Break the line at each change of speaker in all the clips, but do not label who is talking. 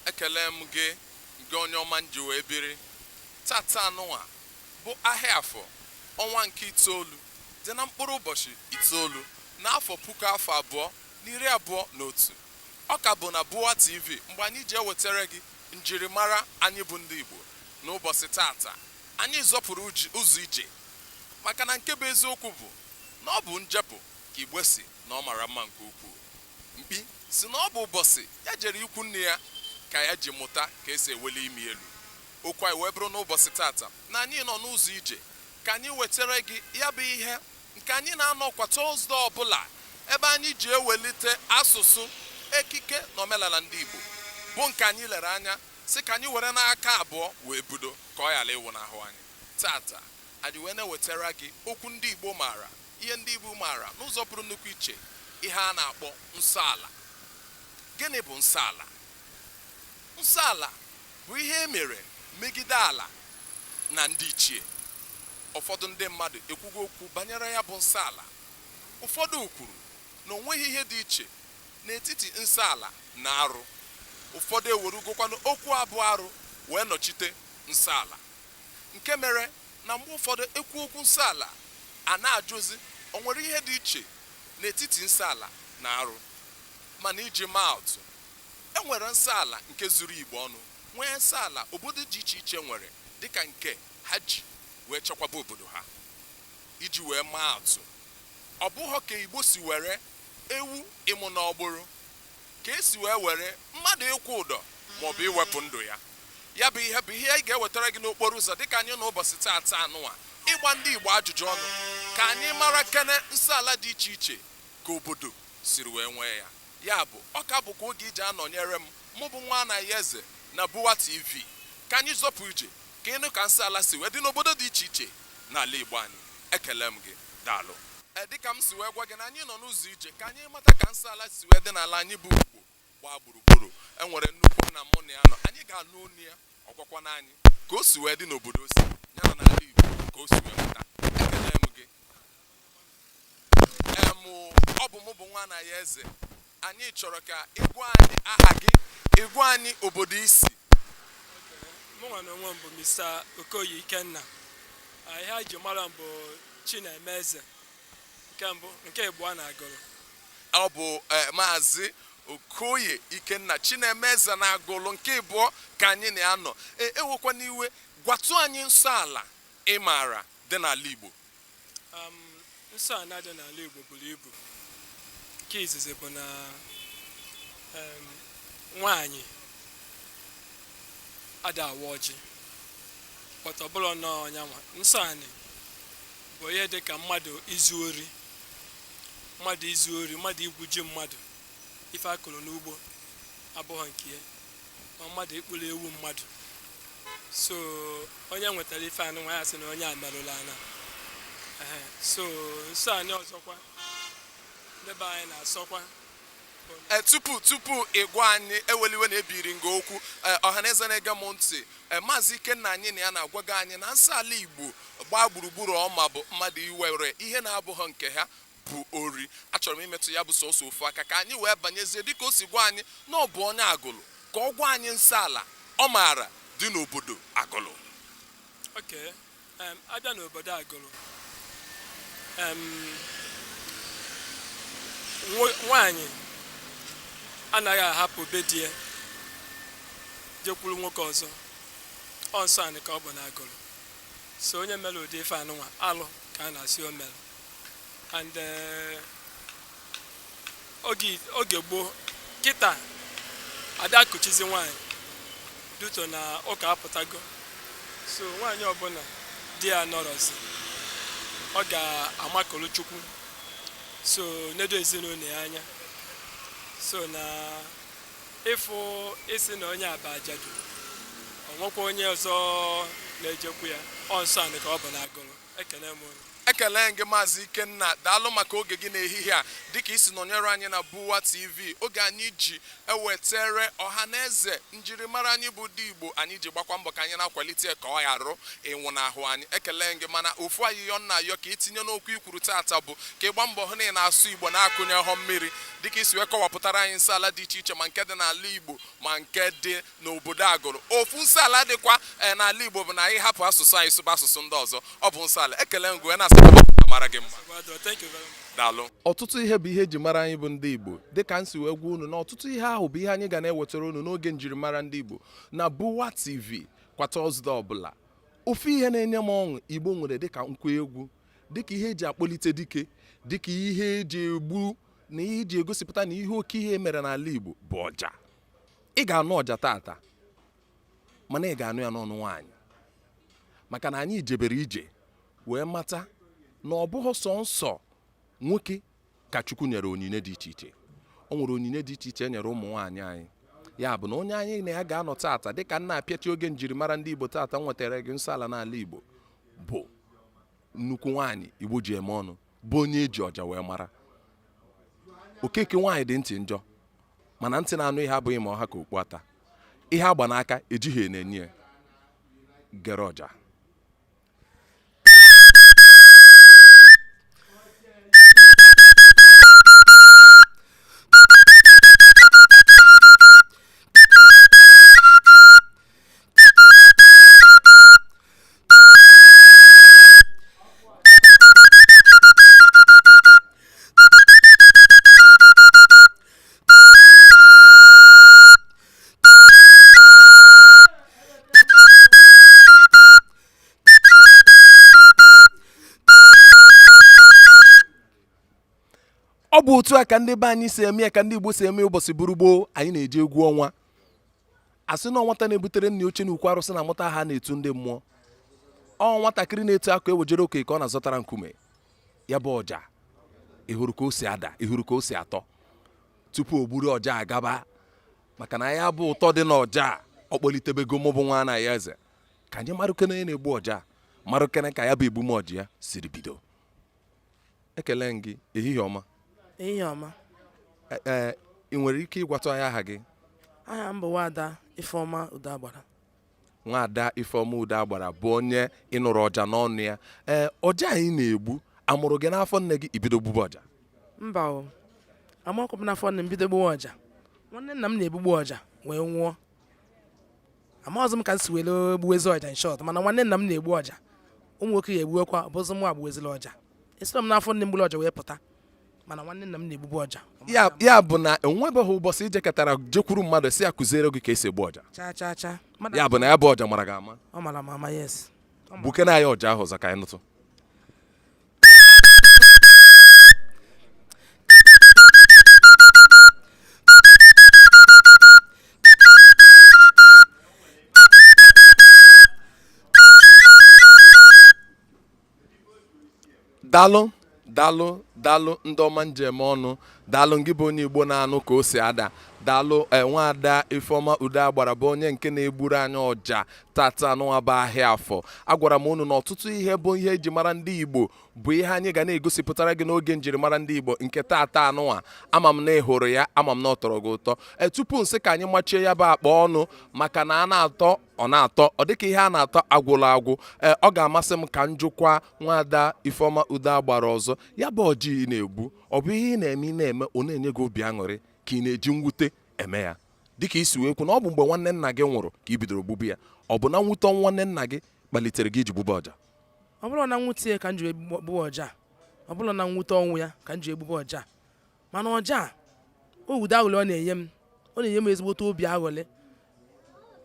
ekele m gị ngị onye ọma m ji wee biri taata anụnwa bụ ahịa afọ ọnwa nke itoolu dị na mkpụrụ ụbọchị itoolu n'afọ puku afọ abụọ na iri abụọ na otu Ọ ka bụ na Buwa TV mgbe anyị ji ewetere gị njirimara anyị bụ ndị Igbo n'ụbọsị taata. Anyị zọpụrụ ụzọ ije maka na nke bụ eziokwu bụ na ọ bụ njepụ ka Igbo sị na ọ mara mma nke ukwuu. Mkpi sị na ọ bụ ụbọsị ya jere ikwu nne ya ka ya ji mụta ka e si eweli imi elu. Okwu anyị wee bụrụ n'ụbọsị taata na anyị nọ n'ụzọ ije ka anyị wetere gị ya bụ ihe nke anyị na-anọ kwa Tọzde ọbụla ebe anyị ji ewelite asụsụ, ekike na omenala ndị Igbo bụ nke anyị lere anya sị ka anyị were n'aka abụọ wee budo ka ọ ghara ịnwụnahụ anyị. Taata, anyị wee na-ewetara gị okwu ndị Igbo maara, ihe ndị Igbo maara n'ụzọ pụrụ nnukwu iche, ihe a na-akpọ nsọala. Gịnị bụ nsọala? Nsọala bụ ihe e mere megide ala na ndị ichie. Ụfọdụ ndị mmadụ ekwugo okwu banyere ya bụ nsọ ala. Ụfọdụ kwuru na o nweghị ihe dị iche n'etiti nsọ ala na arụ. Ụfọdụ ewerugokwanụ okwu a bụ arụ wee nọchite nsọ ala. Nke mere na mgbe ụfọdụ e kwuo okwu nsọ ala, a na-ajụzị o nwere ihe dị iche n'etiti nsọ ala na arụ. Mana iji maa atụ, e nwere nsọ ala nke zuru Igbo ọnụ, nwee nsọ ala obodo dị iche iche nwere dịka nke ha ji wee chekwaba obodo ha iji wee maa atụ ọ bụghọ ka Igbo si were ewu ịmụ n'ọgbụrụ ka e si wee were mmadụ ịkwụ ụdọ maọbụ iwepụ ndụ ya ya bụ ihe bụ ihe anyị ga-ewetara gị n'okporo ụzọ dịka anyị na ụbọsị taata anụwa ịgba ndị Igbo ajụjụ ọnụ ka anyị mara kene nsọ ala dị iche iche ka obodo siri wee nwee ya ya bụ ọ ka bụkwa oge i ji anọnyere m mụ bụ Nwanayọeze na Buwa TV ka anyị zọpụ ije Keenụ ka nsọ ala si wee dị n'obodo dị iche iche n'ala Igbo anyị. Ekele m gị. Daalụ. Ee, dịka m si wee gwa gị na anyị nọ n'ụzọ ije ka anyị mata ka nsọ ala si wee dị n'ala anyị bụ Igbo gbaa gburugburu. E nwere nnukwu nna mụ na ya nọ. Anyị ga-anụ ọnụ ya, ọ gwakwanụ anyị ka o si wee dị n'obodo o si, ya na n'ala Igbo ka o si wee pụta. Ekele m gị. Ee, mụ, ọ bụ mụ bụ Nwanayọeze. anyị chọrọ ka ị gwa anyị aha gị ị gwa anyị obodo i si mụnwa na onwe m bụ Mr. Okoye Ikenna ihe anyị ji mara m bụ Chinemeze nke mbụ nke ịbụọ na Agụlụ ọ bụ e, maazị Okoye Ikenna Chinemeze na Agụlụ nke ịbụọ ka anyị na ya nọ ewekwana iwe gwatụ anyị nsọ ala ị maara dị n'ala Igbo um, nsọ anị dị n'ala Igbo buru ibu nke izizi bụ na um, nwaanyị ada awa ọjị but ọ bụrọ na ọ nyanwa nsọ anị bụ ihe dị ka mmadụ izu ori mmadụ izu ori mmadụ igwu ji mmadụ ife a kụrụ n'ugbo abụghị nke ya ma mmadụ ịkpụrụ ewu mmadụ so onye nwetara ife anụnwa ya sị na onye a merụla ana so nsọ anị ọzọkwa ndị be anyị na-asọkwa Eh, tupu tupu ị gwa anyị ewela iwe na ebiri m gị okwu eh, ọhaneze na-ege m ntị eh, maazị ikenna anyị na ya nọ agwago anyị na nsọ ala igbo gbaa gburugburu ọ ma bụ mmadụ iwere ihe na-abụghị nke ha bụ ori achọrọ m imetụ ya bụ sọsọ ofu aka ka anyị wee banyezie dịka o si gwa anyị na ọ bụ onye agụlụ ka ọ gwa anyị nsọ ala ọ maara dị n'obodo agụlụ okay a bịa n'obodo agụlụ nwaanyị anaghị ahapụ be di ya jekwuru nwoke ọzọ ọ nsọ anị ka ọ bụ n'agụlụ so onye mere ụdị ife anụnwa alụ ka a na-asị o mere and eh, oge oge gboo kịta ada akụchizi nwaanyị due to na ụka apụtago so nwaanyị ọbụla di ya nọrọzi ọ ga-amakụrụ chukwu so nedo ezinụlọ ya anya so na ị fụ ịsị na onye a bụ ajadu o nwekwa onye ọzọ na-ejekwu ya ọ nsọ anị ka ọ bụ na agụlụ Ekele m unu. ekele m gị maazị ikenna daalụ maka oge gị n'ehihie a dịka i si nọnyere anyị na buwa tv oge anyị ji ewetere ọha na eze njirimara anyị bụ ndị igbo anyị ji gbakwa mbọ ka anyị na-akwalite ya ka ọ ghara ịnwụnahụ anyị ekele m gị mana ofu ayịyọ m na-ayọ ka i tinye n'okwu i kwuru taata bụ ka ị gba mbọ hụ na ị na-asụ igbo na-akụnyehọ mmiri dịka i si wee kọwapụtara anyị nsọ ala dị iche iche ma nke dị n'ala igbo ma nke dị n'obodo Agụrụ. Ofu nsọala dịkwa eh, n'ala Igbo bụ na anyị hapụ asụsụ anyị sụba asụsụ ndị ọzọ. Ọ bụ nsọala. Ekele m gị wee na-asị ka ọ mara gị mma. Daalụ. ọtụtụ ihe bụ ihe eji mara anyị bụ ndị igbo dịka m si wee gwa unu na ọtụtụ ihe ahụ bụ ihe anyị ga na-ewetara unu n'oge njirimara ndị igbo na buwa tv kwa tọzde ọbụla ofu ihe na-enye m ọṅụ igbo nwere dịka nkwa egwu dịka ihe eji akpọlite dike dịka ihe eji egbu na ihe eji egosipụta na ihe oke ihe mere n'ala igbo bụ ọja ị ga-anụ ọja tata mana ị ga-anụ ya n'ọnụ nwaanyị maka na anyị jebere ije wee mata na ọ bụghị sọ nsọ nwoke ka Chukwu nyere onyinye dị iche iche o nwere onyinye dị iche iche e nyere ụmụ nwaanyị anyị ya bụ na onye anyị na ya ga-anọ tata dịka m na-apịachi oge njirimara ndị Igbo tata m wetara gị nsọ ala n'ala Igbo bụ nnukwu nwaanyị Igbo ji eme ọnụ bụ onye eji ọja wee mara okeke nwaanyị dị ntị njọ mana ntị na-anụ ihe abụghị ma ọ ha ka okpu ata ihe agba n'aka ejighị enyo enyo ya gere ọja ọ bụ otu a ka ndị be anyị si eme ya ka ndị Igbo si eme ụbọsị bụrụ gboo anyị na-eje egwu ọnwa a sị na nwata na-ebutere nna ya oche n'ukwu arụsị na-amụta aha a na-etu ndị mmụọ ọ nwatakịrị na-etu akụ ewejere oke ka ọ na-azọtara nkume ya bụ ọja ị hụrụ ka o si ada ị hụrụ ka o si atọ tupu o gburu ọja gaba maka na ya bụ ụtọ dị n'ọja ọ kpọlitebego mụ bụ nwa na ya eze ka anyị marụkene onye na-egbu ọja marụkene ka ya bụ egbume ọja ya siri bido ekele m gị ehihie ọma ehihie ọma e, e, ị nwere ike ịgwatụ anyị aha gị aha m bụ nwada ifeọma udo agbara nwada ifeọma udo agbara bụ onye ị nụrụ ọja n'ọnụ ya ee ọja a ị na-egbu a mụrụ gị n'afọ nne gị i bido gbube ọja mba o amakwụbụ n'afọ nne m bido gbuwe ọja nwanne nna m na-egbubu ọja wee nwụọ amaghịzị m ka m si were gbuwezi ọja in short mana nwanne nna m na-egbu ọja ụmụ nwoke ya egbuwekwa bụzị mụwa gbuwezila ọja esirọ m n'afọ nne m gburu ọja wee pụta mana nwanne nna m na-egbubu ọja ya ya bụ na enwebeghị ụbọsị i jekatara jekwuru mmadụ sị ya kụziere gị ka e si egbu ọja chaa chaa chaa mmadụ ya bụ na ya bụ ọja mara gị ama ọ mara m ama yes gbukene ya ọja ahụ ọzọ ka anyị nụtụ dalụ dalụ dalụ ndị ọma m ji eme ọnụ dalụ ngị bụ onye igbo na-anụ ka o si ada dalụ nwa ada ifeọma udo agbara bụ onye nke na-egburu anyị ọja tata anụnwa bụ ahịa afọ agwara m unu na ọtụtụ ihe bụ ihe eji mara ndị Igbo bụ ihe anyị ga na-egosipụtara gị n'oge njirimara ndị Igbo nke tata anụnwa ama m na ị hụrụ ya ama m na ọ tọrọ gị ụtọ e, tupu m sị ka anyị machie ya bụ akpa ọnụ maka na a na-atọ ọ na-atọ ọ dịka ihe a na-atọ agwụla agwụ e, ọ ga-amasị m ka m jụkwa nwada Ifeoma Udo agbara ọzọ ya bụ ọja ị na-egbu ọ bụ ihe ị na-eme ị na-eme ọ na-enye gị obi aṅụrị ka ị na-eji mwute eme ya dịka i si wee kwu na ọ bụ mgbe nwanne nna gị nwụrụ ka i bidoro gbube ya ọ bụ na nwute ọnwụ nwanne nna gị kpalitere gị iji gbube ọja ọ bụrụ na nwute ya ka m ji egbube ọja ọ bụrụ na nwute ọnwụ ya ka m ji egbube ọja mana ọja o wude aṅụlị ọ na-enye m ọ na-enye m ezigbote obi aṅụlị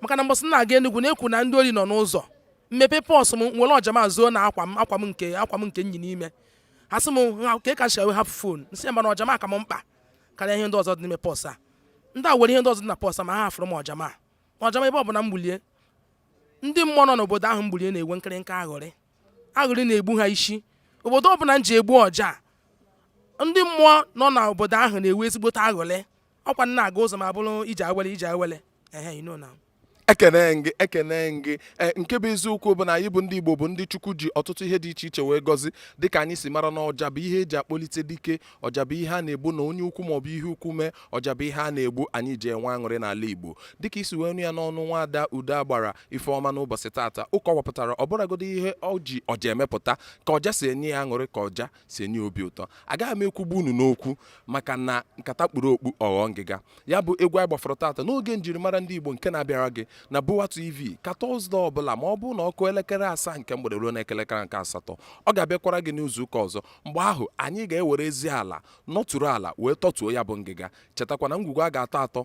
maka na mbọsị m na-aga Enugu na-ekwu na ndị ori nọ n'ụzọ m mepe pọs m were ọja m zoo na akwa m akwa m nke akwa m nke m yi n'ime asị m kee ka i si hapụ fon m sị ya mana ọja m ka m mkpa karịa ihe ndị ọzọ dị n'ime pọs a ndị a were ihe ndị ọzọ dị na pọs a ma ha hafụrụ m ọja m a ọja m a ebe ọ bụla m gbulie ndị mmụọ nọ n'obodo ahụ m gbulie na-enwe nkịrịnka aṅụrị aṅụrị na-egbu ha isi obodo ọ bụla m ji egbu ọja ndị mmụọ nọ n'obodo ahụ na-enwe ezigbote aṅụlị ọkwa m na-aga ụzọ m abụrụ ije awele ije awele ehe you know now ekene m gị ekene m gị e, nke bụ eziokwu bụ na anyị bụ ndị igbo bụ ndị chukwu ji ọtụtụ ihe dị iche iche wee gọzi dịka anyị si mara na ọja bụ ihe eji akpọlite dike ọja bụ ihe a na-egbu na onye ukwu maọbụ ihe ukwu mee ọja bụ ihe a na-egbu anyị ji enwe aṅụrị n'ala igbo dịka i si wee nụ ya n'ọnụ nwaada udo agbara ifeọma n'ụbọchị tata ọ kọwapụtara ọ bụrụgodi ihe o ji ọja emepụta ka ọja si enye ya aṅụrị ka ọja si enye obi ụtọ agaghị m ekwugbu unu n'okwu maka na nkata kpuru okpu ọ ghọọ ngịga ya bụ egwu anyị gbafọrọ tata n'oge njirimara ndị Igbo nke na-abịara gị na Bowa TV kwa Tọzde ọbụla ma ọ bụrụ na ọ kụọ elekere asaa nke mgbede ruo na ekelekere nke asatọ ọ ga-abịakwara gị n'izu ụka ọzọ mgbe ahụ anyị ga-ewere ezi ala nọturu ala wee tọtuo ya bụ ngịga chetakwa na ngwugwu a ga-atọ atọ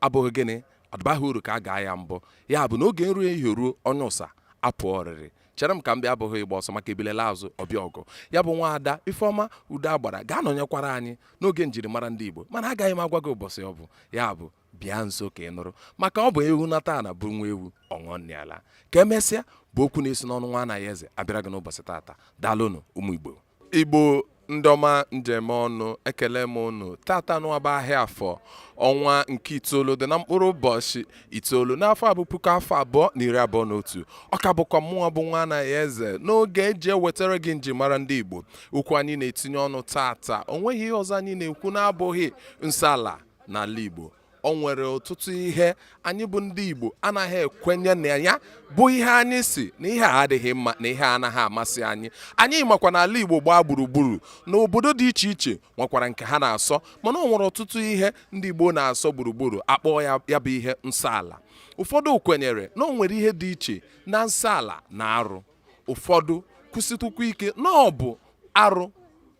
abụghị gịnị adịbaghị uru ka a gaa ya mbọ ya bụ na oge nri ehihie ruo onye ụsa apụọ oriri chere m ka m bịa abụghị ịgba ọsọ maka ebule laa azụ ọ bịa ọgụ ya bụ nwa ada ifeọma udo agbara ga-anọnyekwara anyị n'oge njirimara ndị igbo mana agaghị m agwa gị ụbọchị ọ bụ ya bụ bịa nso ka ị nụrụ maka ọ bụ ewu nata na bụ nwa ewu ọṅụnịala ka emesịa bụ okwu na-esi n'ọnụ nwa anayoeze abịara gị n'ụbọchị tata daalụnụ ụmụ igbo Igbo ndị ọma m ji eme ọnụ ekele m unu tata na-agba ahịa Afọ ọnwa nke itoolu dị na mkpụrụ ụbọchị itoolu n'afọ a bụ puku afọ abụọ na iri abụọ na otu ọ ka bụkwa mụwa bụ nwa Anayọeze n'oge e ji ewetara gị njimara ndị Igbo okwu anyị na-etinye ọnụ tata o nweghị ihe ọzọ anyị na-ekwu na-abụghị nsọ ala n'ala Igbo o nwere ọtụtụ ihe anyị bụ ndị Igbo anaghị ekwenye na ya bụ ihe anyị sị na ihe a adịghị mma na ihe anaghị amasị anyị anyị makwa na ala Igbo gbaa gburugburu na obodo dị iche iche nwekwara nke ha na-asọ mana o nwere ọtụtụ ihe ndị Igbo na-asọ gburugburu a kpọọ ya bụ ihe nsọ ala ụfọdụ kwenyere na o nwere ihe dị iche na nsọ ala na arụ ụfọdụ kwusikwukwa ike na ọ bụ arụ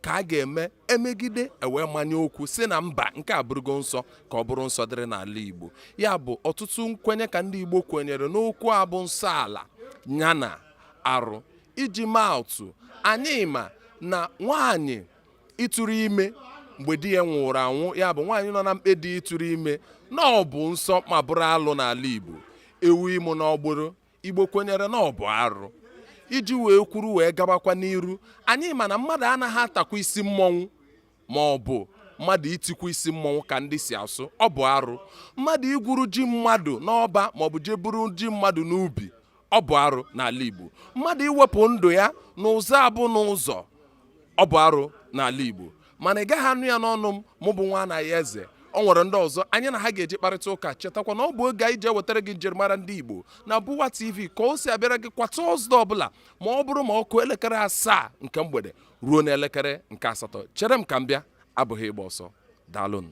ka a ga-eme emegide e wee manye okwu sị na mba nke a abụrụgo nsọ ka ọ bụrụ nsọ dịrị n'ala Igbo ya bụ ọtụtụ nkwenye ka ndị Igbo kwenyere n'okwu a bụ nsọ ala ya na arụ iji maa atụ anyị ma na nwaanyị ịtụrụ ime mgbe di ya nwụrụ anwụ ya bụ nwaanyị nọ na mkpe di ịtụrụ ime na ọ bụ nsọ ma bụrụ alụ n'ala Igbo ewu ịmụ n'ọgbụrụ igbo kwenyere na ọ bụ arụ iji wee kwuru wee gabakwa n'iru anyị ma na mmadụ anaghị atakwa isi mmọnwụ ma ọ bụ mmadụ itikwo isi mmọnwụ ka ndị si asụ ọ bụ arụ mmadụ igwuru ji mmadụ n'ọba ma ọ bụ jee buru ji mmadụ n'ubi ọ bụ arụ n'ala Igbo mmadụ iwepụ ndụ ya n'ụzọ abụna ụzọ ọ bụ arụ n'ala Igbo mana ị gaghị anụ ya n'ọnụ m mụ bụ nwa Anayọeze o nwere ndị ọzọ anyị na ha ga-eji kparịta ụka chetakwa na ọ bụ oge anyị ji ewetara gị njirimara ndị Igbo na Bụwa TV ka o si abịara gị kwa Tọzdee ọbụla ma ọ bụrụ ma ọ kụọ elekere asaa nke mgbede ruo n'elekere nke asatọ chere m ka m bịa abụghị ịgba ọsọ daalụnụ